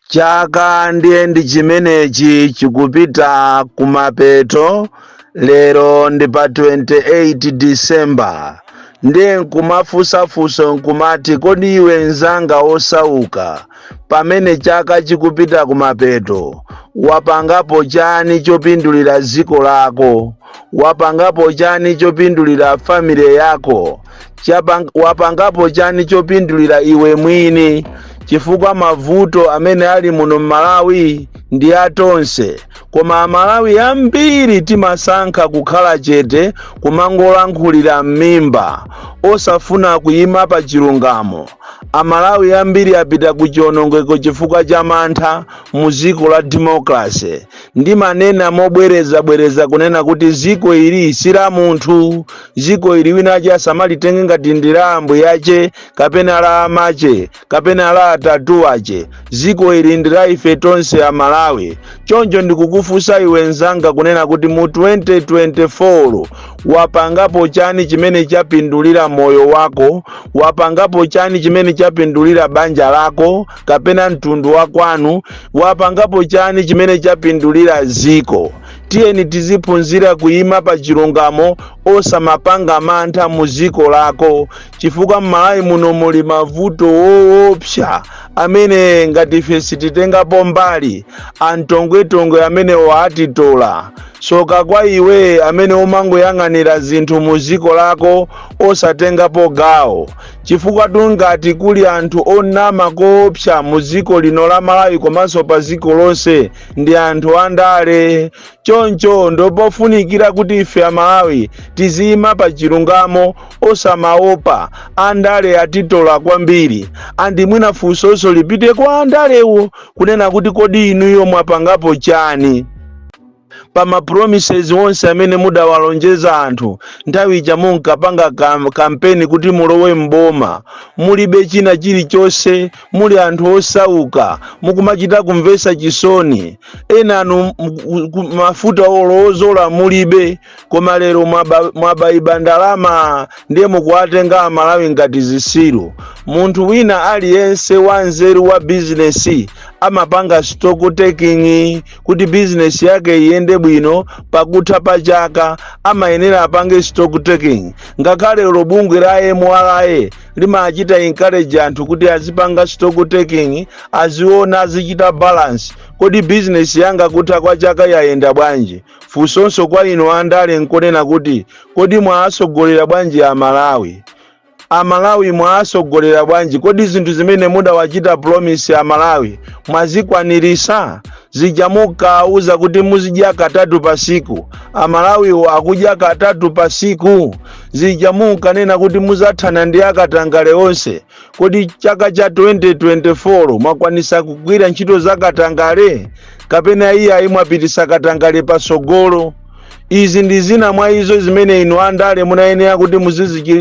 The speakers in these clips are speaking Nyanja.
chaka ndiye ndi chimenechi chikupita kumapeto lero ndi pa 28 disemba ndiye nkumafunsafunso nkumati kodi iwe mzanga wosauka pamene chaka chikupita kumapeto wapangapo chani chopindulira dziko lako wapangapo chani chopindulira family yako wapangapo chani chopindulira iwe mwini chifukwa mavuto amene ali muno mmalawi ndi atonse koma amalawi ambiri timasankha kukhala chete kumangolankhulira m'mimba osafuna kuyima pa chilungamo Amalawi ambiri apita ku chiwonongeko chifukwa cha mantha mu dziko la democracy. Ndimanena mobwereza bwereza kunena kuti dziko ili si la munthu. Dziko ili wina ache asamalitenge ngati ndi la ambuye ache kapena la amache kapena la atate ache. Dziko ili ndi la ife tonse amalawi. Choncho ndikukufunsa iwe nzanga kunena kuti mu 2024 Wapangapo chani chimene chapindulira moyo wako? Wapangapo chani chimene chapindulira banja lako kapena mtundu wa kwanu? Wapangapo chani chimene chapindulira dziko? Tiyeni tiziphunzira kuima pa chilungamo osamapanga mantha mu dziko lako chifukwa m'Malawi muno muli mavuto woopsa amene ngati ife sititengapo mbali antongwetongwe amenewo atitola. Tsoka kwa iwe amene umangoyang'anira zinthu mu dziko lako osatengapo gawo. Chifukwatu ngati kuli anthu onama koopsa mu dziko lino la Malawi komanso pa dziko lonse ndi anthu andale. Choncho ndopofunikira kuti ife Amalawi tiziyima pa chilungamo osamaopa andale atitola kwambiri. Andi mwina funsonso lipite kwa andalewo kunena kuti kodi inuyo mwapangapo chani? pa ma promises onse amene mudawalonjeza anthu nthawi ija munkapanga kampeni kuti mulowe mboma mulibe china chilichonse muli anthu osauka mukumachita kumvesa chisoni enanu mafuta olodzola mulibe koma lero mwabaiba ndalama ndiye mukuwatenga amalawi ngati zitsiru munthu wina aliyense wa nzeru wa bizinesi amapanga stock taking kuti bizinesi yake iyende bwino pakutha pa chaka amayenera apange stock taking ngakhale lo bungwe la mra limachita encourage anthu kuti azipanga stock taking aziona azichita balance kodi bizinesi yanga kutha kwa chaka yayenda bwanji Funsonso kwa inu andale nkonena kuti kodi mwaasogolera bwanji a Malawi? A Malawi mwaasogolera bwanji? Kodi zinthu zimene mudawachita promise a Malawi mwazikwanirisa? Zija munkaauza kuti muzidya katatu pa siku, a Malawiwo akudya katatu pa siku? Zija munkanena kuti muzathana ndi akatangale onse, Kodi chaka cha 2024 mwakwanisa kugwira ntchito za katangale kapena iye ayi mwapitisa katangale patsogolo? Izi ndi zina mwa izo zimene inu andale munayenera kuti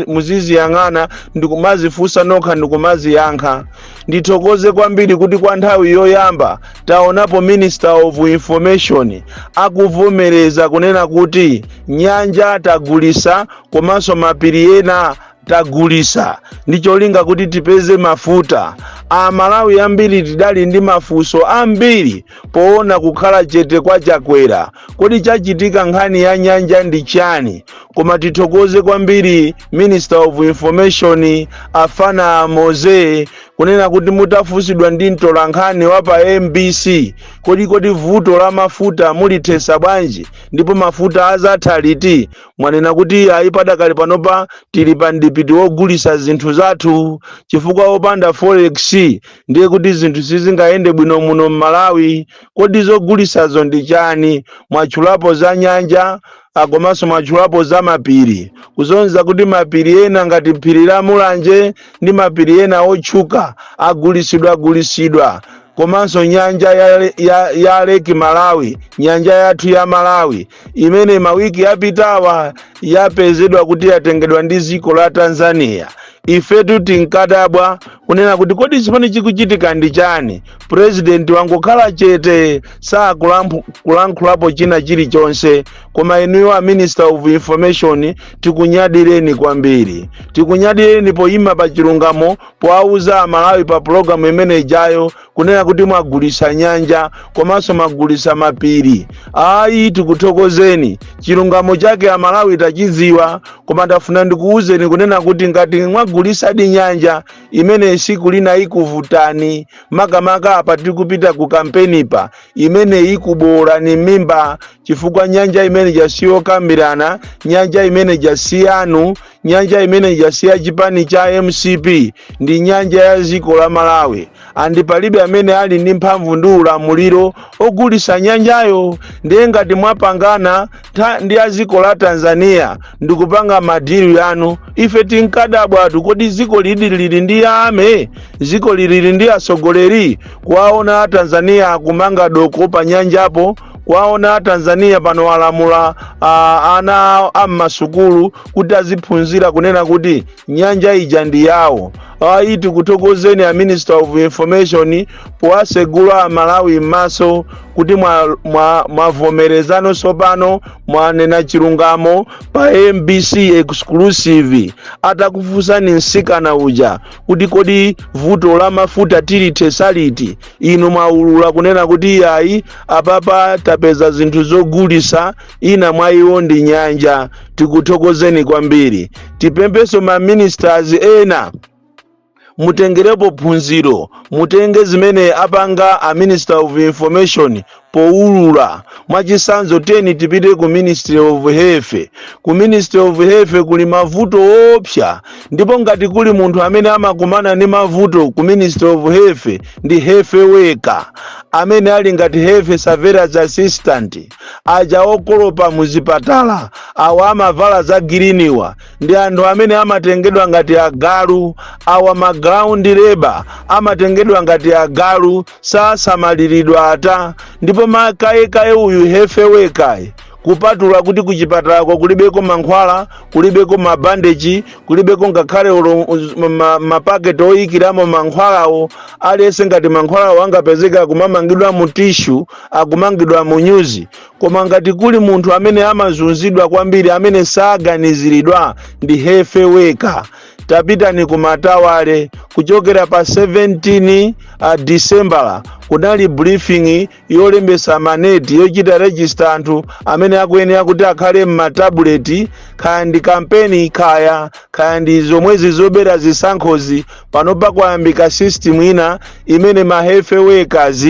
muziziyang'ana ndi kumazifunsa nokha ndi kumaziyankha. Ndithokoze kwambiri kuti kwa nthawi yoyamba taonapo Minister of Information akuvomereza kunena kuti nyanja tagulisa komanso mapiri ena tagulisa ndi cholinga kuti tipeze mafuta amalawi ambiri tidali ndi mafunso ambiri poona kukhala chete kwa chakwera kodi chachitika nkhani ya nyanja ndi chani koma tithokoze kwambiri minister of information afana mose kunena kuti mutafunsidwa ndi mtolankhani wa pa mbc kodi kodi vuto la mafuta mulithesa bwanji ndipo mafuta azatha liti mwanena kuti ayi padakali panopa tili pa mdipiti wogulisa zinthu zathu chifukwa popanda forex ndiye kuti zinthu sizingayende bwino muno m'malawi kodi zogulisazo ndi chani mwatchulapo za nyanja ah, komanso mwatchulapo za mapiri kusonyeza kuti mapiri ena ngati phiri la mulanje ndi mapiri ena otchuka agulisidwa agulisidwa komanso nyanja ya, ya, ya leki malawi nyanja yathu ya malawi imene mawiki yapitawa yapezedwa kuti yatengedwa ndi dziko la tanzania ifetu tinkadabwa kunena kuti kodi chimene chikuchitika ndi chani purezidenti wangokhala chete sakulankhulapo china chilichonse koma inuyo a minister of information tikunyadireni kwambiri tikunyadireni poyima pa chilungamo powauza amalawi pa pulogalamu imene ijayo kunena kuti mwagulisa nyanja komanso mwagulisa mapiri ayi tikuthokozeni chilungamo chake amalawi tachidziwa koma ndafuna ndikuwuzeni kunena kuti ngati mwagulisadi nyanja imeneyi siku lina ikuvutani makamaka apa tikupita ku kampenipa, imeneyi ikuboolani m'mimba chifukwa nyanja imene ija siyokambirana nyanja imene ija siyanu nyanja imene ijasiya chipani cha mcp ndi nyanja ya dziko la malawi andi palibe amene ali ndi mphamvu ndi ulamuliro ogulisa nyanjayo ndiye ngati mwapangana tha- ndi a dziko la tanzania ndikupanga madhiri yanu ife tinkadabwatu kodi dziko lidi lili ndi ame dziko lili ndi atsogoleri kuwaona a tanzania akumanga doko pa nyanjapo kuwaona a tanzania pano alamula ah, ana am'masukulu kuti aziphunzira kunena kuti nyanja ija ndi yawo ayi tikuthokozeni a minister of information powasegula amalawi m'maso kuti mwavomereza ano mwa, mwa tsopano mwanena chilungamo pa mbc exclusive atakufunsani msikana uja kuti kodi vuto la mafuta tilithesa liti inu mwaulula kunena kuti ayi apapa tapeza zinthu zogulisa ina mwa iwo ndi nyanja tikuthokozeni kwambiri tipemphenso ma ministers ena mutengerepo phunziro mutenge zimene apanga a minister of information powulula mwachisanzo teni tipite ku ministry of health ku ministry of health kuli mavuto opsa ndipo ngati kuli munthu amene amakumana ndi mavuto ku ministry of health ndi health worker amene ali ngati health surveillance assistant aja okolopa muzipatala awa amavala za giriniwa ndi anthu amene amatengedwa ngati agalu awa ma ground labor amatengedwa ngati agalu sasamaliridwa ata ndipo makayekaye uyu health worker yu kupatula kuti kuchipatalako kulibeko mankhwala kulibeko mabandeji kulibeko ngakhale olo- uz- ma- mapaketi oyikiramo mankhwalawo aliyense ngati mankhwalawo angapezeka kumamangidwa mu tishu akumangidwa mu nyuzi koma ngati kuli munthu amene amazunzidwa kwambiri amene saganiziridwa ndi health worker tapitani ku matawale kuchokera pa 17 a disembala kunali briefing yolembesa maneti yochita rejista anthu amene akuyenera kuti akhale m'matabuleti kaya ndi kampeni kaya kaya ndi zomwezi zobera zisankhozi panopa kwayambika system ina imene ma health workers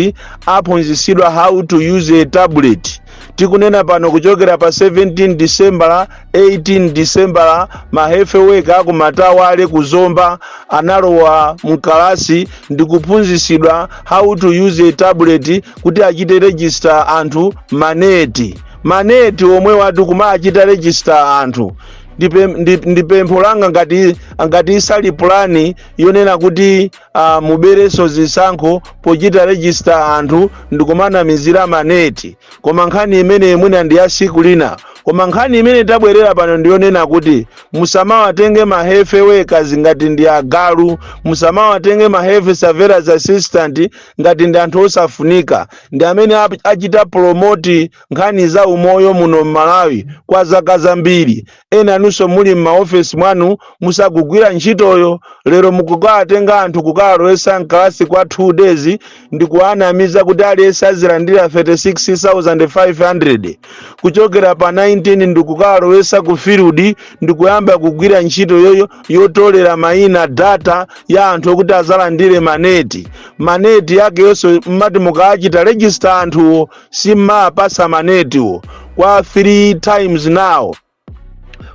aphunzitsidwa how to use a tablet tikunena pano kuchokera pa 17 disembala 18 disembala ma health worker a ku matawale ku zomba analowa mkalasi ndi kuphunzitsidwa how to use a tablet kuti achite register anthu maneti maneti omwewatu kumachita register anthu ndipe- ndi- ndi pempho langa ngati ngati isali pulani yonena kuti uh, muberenso zisankho pochita register anthu ndikumanamizira maneti koma nkhani imene mwina ndi ya siku lina koma nkhani imene tabwerera pano ndiyonena kuti musamawatenge ma health workers ngati ndi agalu musamawatenge ma health surveillance assistant ngati ndi anthu osafunika ndi amene ap- achita promote nkhani za umoyo muno m'malawi kwa zaka zambiri ena inunso muli m'maofesi mwanu musakugwira ntchitoyo lero mukukawatenga anthu kukawalowesa mkalasi kwa 2 days ndi kuwanamiza kuti aliyense azilandira 36500 kuchokera pa 19 ndi kukawalowesa ku field ndi kuyamba kugwira ntchito yoyo yotolera mayina data ya anthu okuti azalandire maneti maneti yakeyonso mmati mukawachita register anthuwo simmaapasa manetiwo kwa 3 times now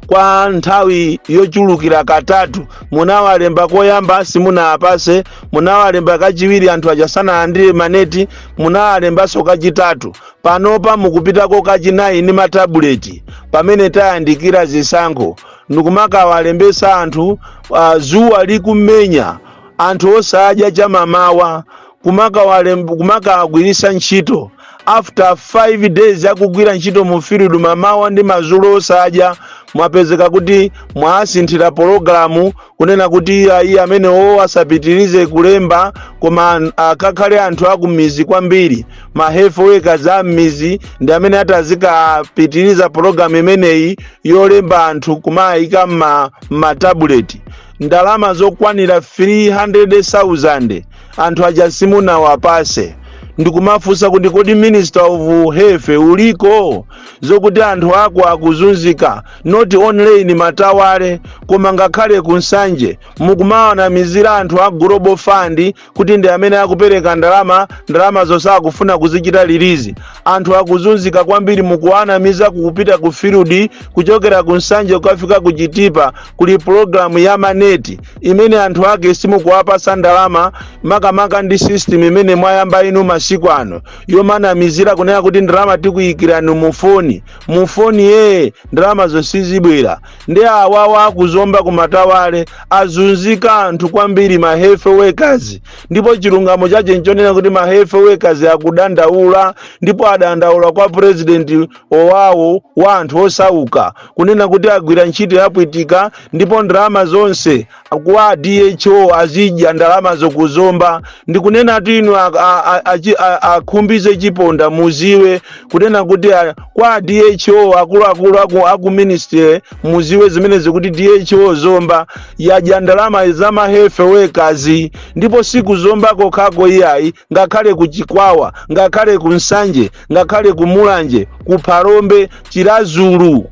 kwa nthawi yochulukira katatu munawalemba koyamba simunawapase munawalemba kachiwiri anthu aja sanalandire maneti munawalembanso kachitatu panopa mukupitako kachinayi ndi matabuleti pamene tayandikira zisankho ndikumakawalembesa anthu uh, zuwa likumenya anthu osadya chamamawa kumakawalem- kumakawagwiritsa ntchito after 5 days akugwira ntchito mu field mamawa ndi madzulo osadya mwapezeka kuti mwasinthira pologalamu kunena kuti iya iye amene wo asapitirize kulemba koma an- akakhale anthu akumizi kwambiri ma health workers a mmizi ndi amene atazikapitiriza pologalamu imeneyi yolemba anthu kumayika mma- mmatabuleti ndalama zokwanira 300,000 anthu aja simunawapase ndikumafunsa kuti kodi minister of health uliko zokuti anthu ako akuzunzika not only in matawale koma ngakhale ku nsanje mukumawanamizira anthu a global fund kuti ndi amene akupereka ndalama ndalama zosakufuna kuzichita lilizi anthu akuzunzika kwambiri mukuwanamiza kupita ku field kuchokera ku nsanje kukafika ku chitipa kuli programu ya maneti imene anthu ake simukuwapasa ndalama makamaka ndi system imene mwayamba inu masiku ano yomanamizira kunena kuti ndalama tikuyikirani mufoni mufoni yee ndalama zo sizibwera ndi awawa aku Zomba ku Matawale azunzika anthu kwambiri ma health workers ndipo chilungamo chache nchonena kuti ma health workers akudandaula ndipo adandaula kwa president owawo wa anthu osauka kunena kuti agwira ntchito yapwitika ndipo ndalama zonse kwa DHO azidya ndalamazo kuzomba ndikunena kuti inu a- a- a- achi- a- akhumbize chiponda muziwe kunena kuti a- kwa DHO akuluakulu aku, aku ministry muziwe zimenezi kuti DHO zomba yadya ndalama za ma health workers ndipo siku zomba kokhako iyayi ngakhale ku chikwawa ngakhale ku nsanje ngakhale ku mulanje ku phalombe chiradzulu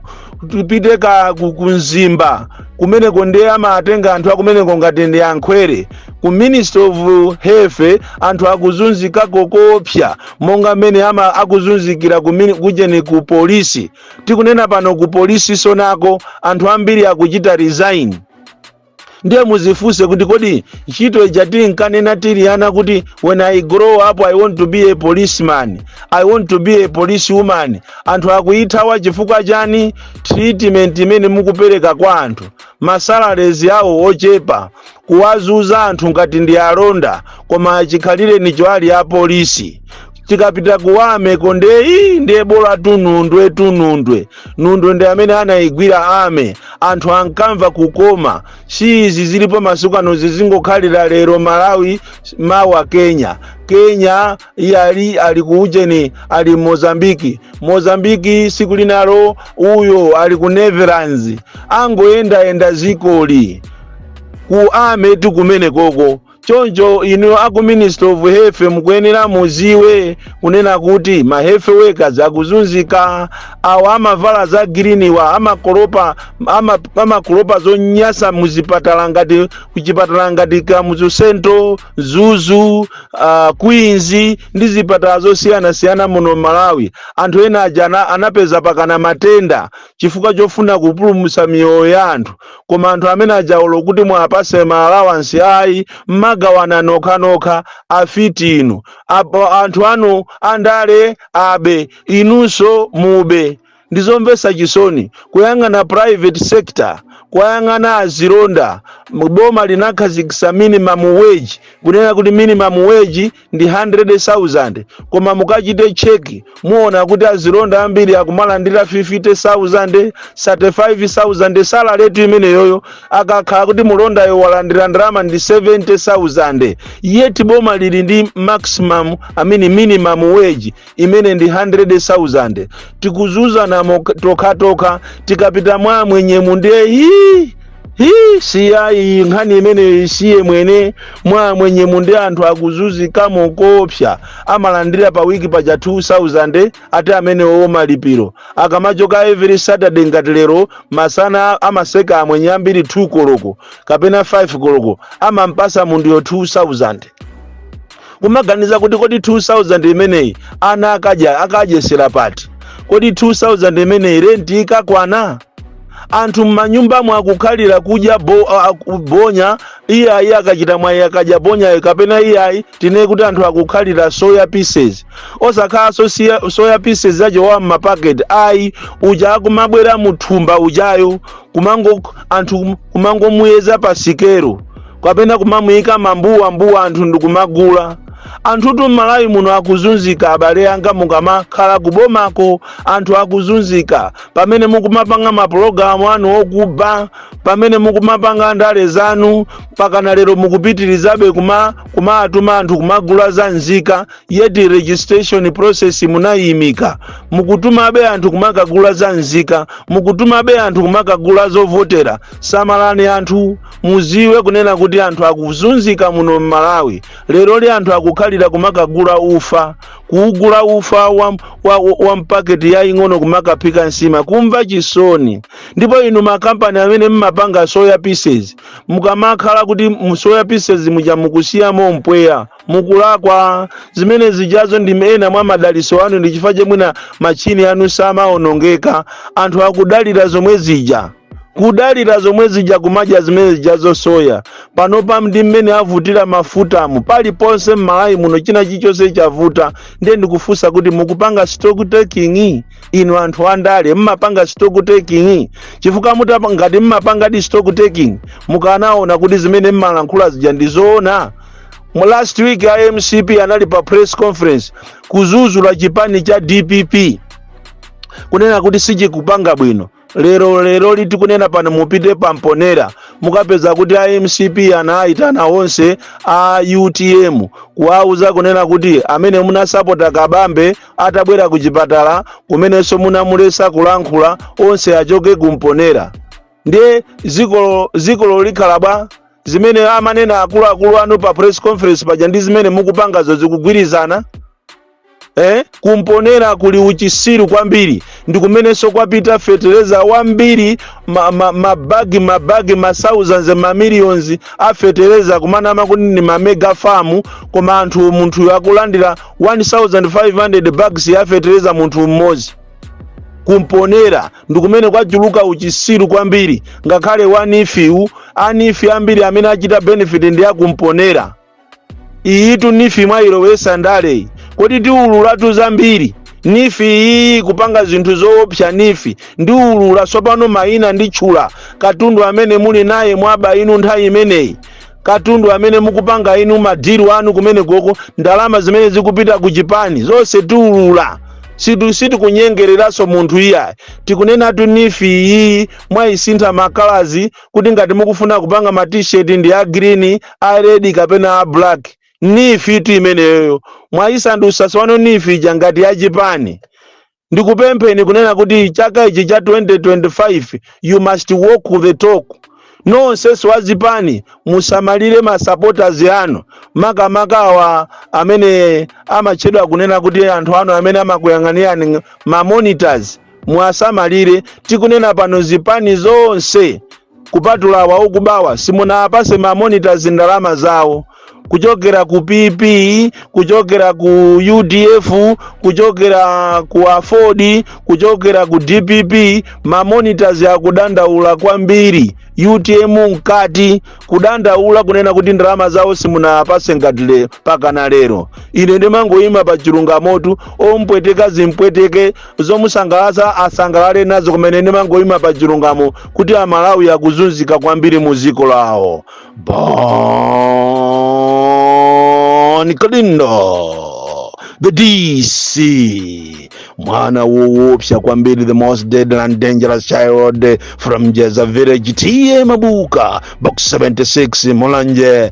tupite ka ku- ku mzimba kumeneko ndiye amatenga anthu akumeneko ngati ndi ankhwere ku ministry of health anthu akuzunzika koopsa monga mmene ama akuzunzikira ku mini- kujeni ku polisi tikunena pano ku polisi sonako anthu ambiri akuchita resign ndiye muzifunse kuti kodi ntchito ija tinkanena tili ana kuti when i grow up i want to be a policeman i want to be a police woman anthu akuyithawa chifukwa chani treatment imene mukupereka kwa anthu masalarezi awo ochepa kuwazunza anthu ngati ndi alonda koma chikhalirenicho ali apolisi tikapita ku army ko ndeyi ndiye bola tunundwe tunundwe nundwe ndi amene anayigwira army anthu ankamva kukoma si izi zilipo masiku ano zizingokhalira lero malawi mawa kenya kenya iye ali ali ku ujeni ali mozambiki mozambiki siku linalo uyo ali ku netherlands angoyendayenda zikoli ku army kumenekoko choncho inu aku ministry of health mukuyenera muziwe kunena kuti ma health workers akuzunzika awa amavala za green wa amakolopa ama- amakolopa zonyasa muzipatala ngati kuchipatala ngati kamuzu central mzuzu uh, queens ndi zipatala zosiyanasiyana muno malawi anthu ena aja ana- anapeza pakana matenda chifukwa chofuna kupulumutsa miyoyo ya anthu koma anthu amene aja olo kuti muwapatse ma allowance ayi mmagawana nokhanokha afiti inu apo anthu anu andale abe inunso mube ndizomvesa chisoni kuyang'ana private sector kuyang'ana azilonda boma linakhazikisa minimum wage kunena kuti minimum wage ndi 100,000 koma mukachite cheki muona kuti azilonda ambiri akumalandira 50,000 35,000 salary yake imeneyoyo akakhala kuti mulondayo walandira ndalama ndi 70,000 yet boma lili ndi maximum i mean minimum wage imene ndi 100,000 tikuzuzana mok- tokhatokha tikapita mwa amwenyemu nde hii hii siyayi nkhani imeneyo isiye mwene mwa amwenyemu nde anthu akuzunzikamo koopsa amalandira pa wiki paja 2000 ati amenewo malipiro akamachoka every saturday ngati lero masana amaseka amwenye ambiri 2 koloko kapena 5 koloko amampasa munthuyo 2000 kumaganiza kuti kodi 2000 imeneyi ana akadya akadyesera pati kodi 2000 imeneyi renti ikakwana anthu m'manyumbamo akukhalira kudya bo, a- a- bonya iyayi akachita mwayi akadya bonyayo kapena iyayi tinene kuti anthu akukhalira soya pieces osakhala sosia- soya pieces ujo wa m'mapaketi ayi uja akumabwera muthumba ujayo kumango anthu kumangomuyeza pa sikero kapena kumamuyika m'mabawa m'mabawa anthu ndikumagula anthutu m'malawi muno akuzunzika abale anga mukamakhala kubomako anthu akuzunzika pamene mukumapanga mapulogalamu anu okuba pamene mukumapanga ndale zanu pakana lero mukupitirizabe kuma kumaatuma anthu kumagula za nzika yeti registration process munayimika mukutumabe anthu kumakagula za nzika mukutumabe anthu kumakagula zovotera samalani anthu muziwe kunena kuti anthu akuzunzika muno mmalawi lero li anthu akukhalira kumakagula ufa kuugula ufa wa, wa, wa mpaketi yaying'ono kumakaphika nsima kumva chisoni ndipo inu makampani amene mmapanga soya pieces mukamakhala kuti mu soya pieces muja mukusiyamo mpweya mukulakwa zimene zijazo ndi ena mwa madaliso anu ndi chifukwa chake mwina machini anu samaonongeka anthu akudalira zomwe zija kudalira zomwe zija kumadya zimene zijazo soya panopa ndi mmene avutira mafutamu paliponse m'malawi muno china chilichonse chavuta ndiye ndikufunsa kuti mukupanga stock taking inu anthu andale mmapanga stock taking chifukwa mutapa ngati mmapangadi stock taking mukanaona kuti zimene mmalankhula zija ndi zoona mu last week a mcp anali pa press conference kuzuzula chipani cha dpp kunena kuti sichikupanga bwino lero leroli tikunena pano mupite pamponera mukapeza kuti a mcp anayitana onse a utm kuwauza kunena kuti amene munamsapota kabambe atabwera ku chipatala komanso munamulesa kulankhula onse achoke kumponera ndiye zikolo zikolo likhala bwa zimene amanena akuluakulu anu pa press conference paja ndi zimene mukupangazo zikugwirizana eh? ku mponela kuli uchisiru kwambiri ndi kumenenso kwapita fetereza wambiri mabagi ma, ma mabagi mabagi ma thousands ma millions a fetereza kumanama kuti ndi ma mega farm koma anthu munthuyo akulandira 1500 bags ya fetereza munthu mmodzi ku mponela ndi kumene kwachuluka uchisiru kwambiri ngakhale wa neef wu a neef ambiri amene achita benefit ndi aku mponela iyitu neef mwayilowesa ndaleyi kodi tiululatu zambiri neef iyi kupanga zinthu zoopsa neef ndiulula tsopano mayina nditchula katundu amene muli naye mwaba inu nthawi imeneyi katundu amene mukupanga inu madiru anu kumeneko ko ndalama zimene zikupita ku chipani zonse tiulula sitikunyengereranso munthu iyayi tikunenatu neef iyi mwayisintha makalazi kuti ngati mukufuna kupanga ma t-shirt ndi a green a red kapena a black neef tu imeneyoyo mwayisandutsa tsopano neef ija ngati ya chipani ndikupempheni kunena kuti chaka ichi cha 2025 you must walk the talk nonsenso wa zipani musamalire masupporters anu makamaka awa amene amatchedwa kunena kuti anthu anu amene amakuyang'anirani ma monitors muwasamalire tikunena pano zipani zonse kupatula awa okubawa simunawapatse ma monitors ndalama zawo kuchokera ku PP kuchokera ku UDF kuchokera ku Aford kuchokera ku DPP ma monitors akudandaula kwambiri UTM mkati kudandaula kunena kuti ndalama zawo simunawapatse ngati le pakana lero ine ndimangoyima pa chilungamotu zompweteka zimpweteke zomusangalatsa asangalale nazo kumene ndimangoyima pa chilungamo kuti amalawi akuzunzika kwambiri mu dziko lawo bon kalindo the dc mwana woopsa kwambiri the most deadly and dangerous child from jeza village ta mabuka box 76 mulanje